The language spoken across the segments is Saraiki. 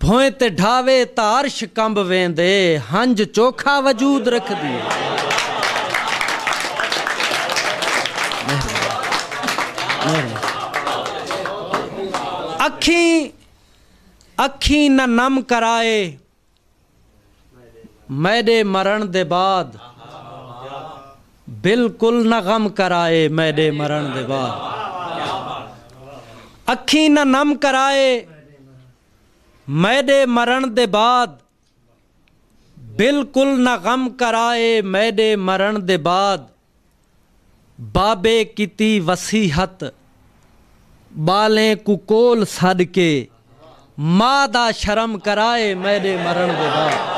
بھوئیں تے ڈھاوے تاں عرش کمب ویندے ہنج چوکھا وجود رکھدی ہے۔ اکھیں اکھیں نہ نم کرائے۔ میݙے مرݨ دے بعد بالکل نہ غم کرائے میݙے مرݨ دے بعد اکھیں نہ نم کرائے میݙے مرݨ دے بعد بالکل نہ غم کرائے میݙے مرݨ دے بعد بابے کیتی وصیحت ٻالیں کوں کول سݙ کے ماء دا شرم کرائے میݙے مرݨ دے بعد۔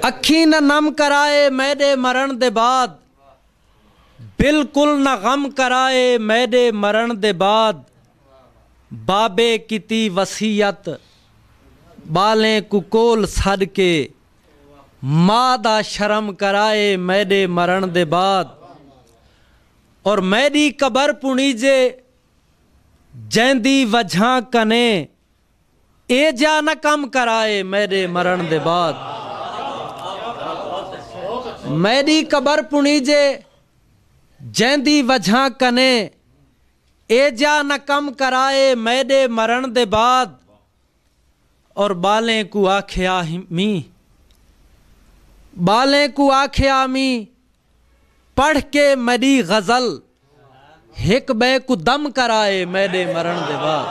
اکھیں نہ نم کرائے میݙے مرݨ دے بعد۔ بالکل نہ غم کرائے میڈے مرݨ دے بعد بابے کیتی وصیت ٻالیں کوں کول سݙ کے ماء دا شرم کرائے میڈے مرݨ دے بعد اور میڈی قبر پݨیجے جیندی وجھاں کنیں اے جیا نہ کم کرائے میڈے مرن دے بعد میڈی قبر پنیجے جیندی وجھاں کنے اے جیا نہ کم کرائے میڈے مرن دے بعد اور بالیں کو آکھیا میں بالیں کو آکھیا میں پڑھ کے میݙی غزل ہک ٻئے کوں دم کر آئے میݙے مرݨ دے بعد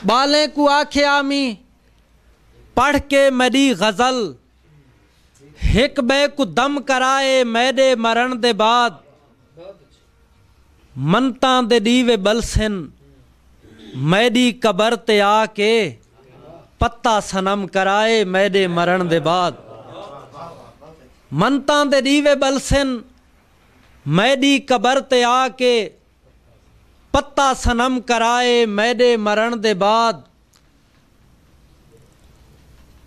ٻالیں کوں آکھے آمی پڑھ کے میݙی غزل ہک ٻئے کوں دم کر آئے میݙے مرݨ دے بعد منتاں دے ݙیوے ٻلسن میݙی قبر تے آ کے پتہ صنم کرائے میݙے مرݨ دے بعد منتاں دے ݙیوے ٻلسن میݙی قبر تے آ کے پتہ صنم کرائے میݙے مرݨ دے بعد۔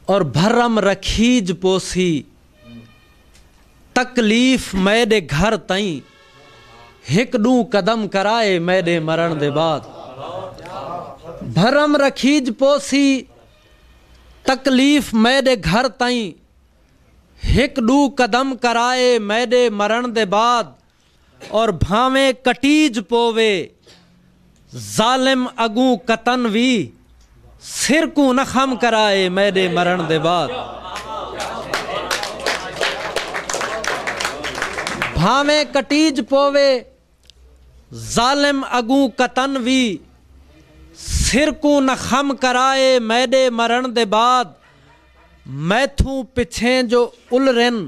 اور بھرم رکھیج پوسی تکلیف میڈے گھر تائیں ہک ڈوں قدم کرائے میڈے مرن دے بعد بھرم رکھیج پوسی تکلیف میڈے گھر تائیں ہک ڈوں قدم کرائے میڈے مرن دے بعد اور بھانویں کٹیج پووے ظالم اگوں قطن وی سر کوں نہ خم کرا اے میڈے مرن دے بعد بھانویں کٹیج پووے ظالم اگوں قطن وی سر کوں نہ خم کرا اے میڈے مرن دے بعد میتھوں پچھیں جو الرن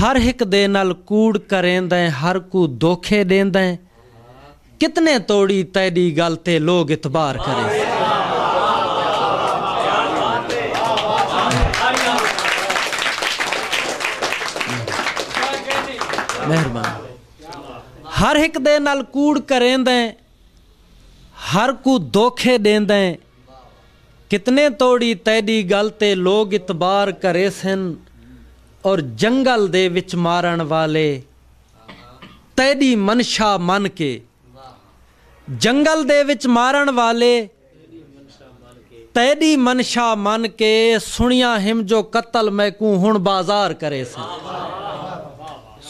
ہر ہک دے نال کوڑ کریندیں ہر کوں دوکھے ݙیندیں کتنے توڑی تیݙی ڳل تے لوگ اعتبار کریسن۔ ہر ہک دے نال کوڑ کریندیں۔ ہر کوں دوکھے ڈیندیں کتنے توڑی تیڈی گل تے لوگ اعتبار کریسن اور جنگل دے وچ مارن والے تیڈی منشا من کے جنگل دے وچ مارن والے تیݙی منشا من کے سݨیا ہم جو قتل میکوں ہݨ بازار کریسن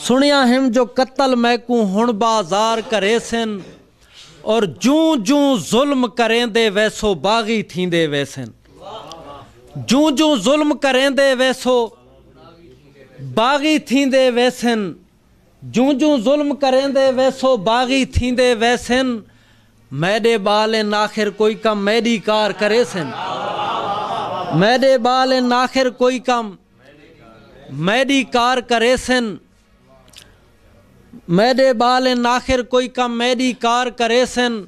سݨیا ہم جو قتل میکوں ہݨ بازار کریسن اور جوں جوں ظلم کریندے ویسو باغی تھیندے ویسن جوں جوں ظلم کریندے ویسو باغی تھیندے ویسن۔ جوں جوں ظلم کریندے ویسو باغی تھیندے ویسن میڈے بال ان آخر کوئی کم میڈی کار کریسن میڈے بال ان آخر کوئی کم میڈی کار کریسن میڈے بال ان آخر کوئی کم میڈی کار کریسن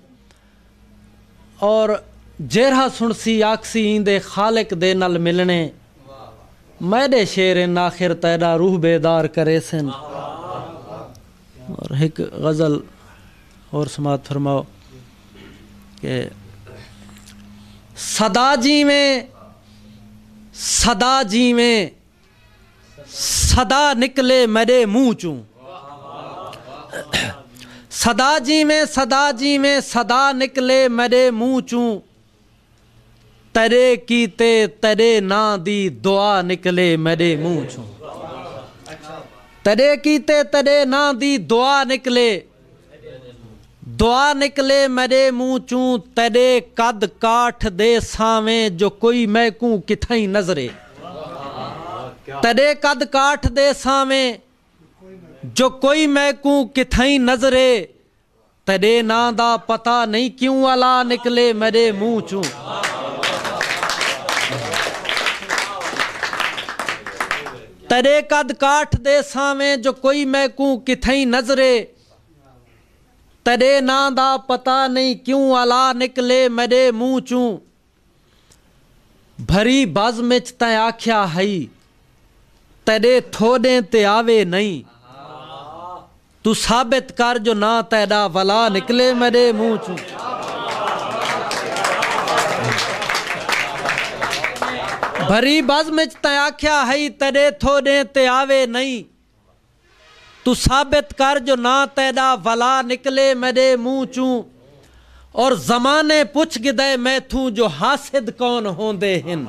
اور جیرھا سنڑسی آکھسی ایندے خالق دے نال ملنڑے میڈے شعر ہن آخر تیڈا روح بیدار کریسن اور ہک غزل اور سماعت فرماؤ کہ صدا جیویں صدا جیویں صدا نکلے میݙے منہ چوں صدا جیویں صدا جیویں صدا نکلے میݙے منہ چوں تیݙے کیتے تیݙے ناں دی دعا نکلے میݙے منہ چوں تیݙے کیتے تیݙے ناں دی دعا نکلے دعا نکلے میݙے منہ چوں تیݙے قد کاٹھ دے سانویں جو کوئی میکوں کتھائیں نظرے تیݙے قد کاٹھ دے سانویں جو کوئی میکوں کتھائیں نظرے تیݙے ناں دا پتہ نئیں کیوں الا نکلے میݙے منہ چوں تیݙے قد کاٹھ دے سانویں جو کوئی میکوں کتھئیں نظرے تیݙے ناں دا پتہ نئیں کیوں الا نکلے میݙے منہ چوں بھری بزم اچ تیں آکھیا ہئی تیݙے تھوݙیں تے آوے نئیں توں ثابت کر جو ناں تیڈا ولا نکلے میڈے منہ چوں۔ بھری بزم اچ تیں آکھیا ہئی تیڈے تھو ڈیں تے آوے نئیں۔ توں ثابت کر جو ناں تیڈا ولا نکلے میڈے منہ چوں۔ اور زمانے پچھ گدئے میتھوں جو حاسد کون ہوندے ہن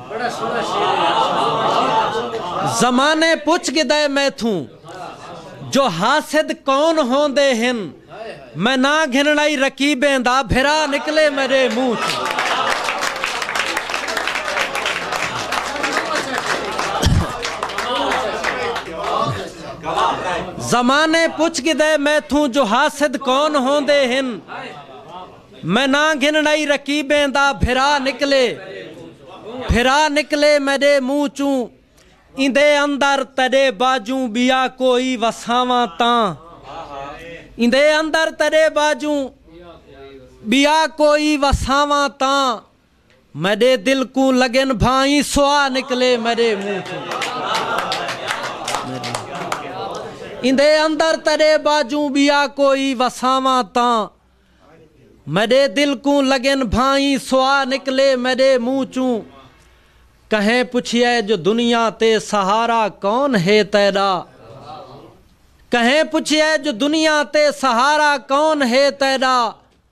زمانے پچھ گدئے میتھوں جو حاسد کون ہوندے ہن میں ناں گھنڑائی رقیبیں دا بھرا نکلے میڈے منہ چوں زمانے پچھ گھدے میتھوں جو حاسد کون ہوندے ہن میں ناں گھنڑائی رقیبیں دا بھرا نکلے بھرا نکلے میڈے منہ چوں ایندے اندر تیڈے باجوں بیا کوئی وساواں تاں ایندے اندر تیڈے باجوں بیا کوئی وساواں تاں میڈے دل کوں لگن بھائیں سوا نکلے میڈے منہ توں ایندے اندر تیڈے باجوں بیا کوئی وساواں تاں میڈے دل کوں لگن بھائیں سوا نکلے میڈے منہ چوں کہیں پچھیے جو دنیا تے سہارا کون ہے تیڈا کہیں پچھیے جو دنیا تے سہارا کون ہے تیڈا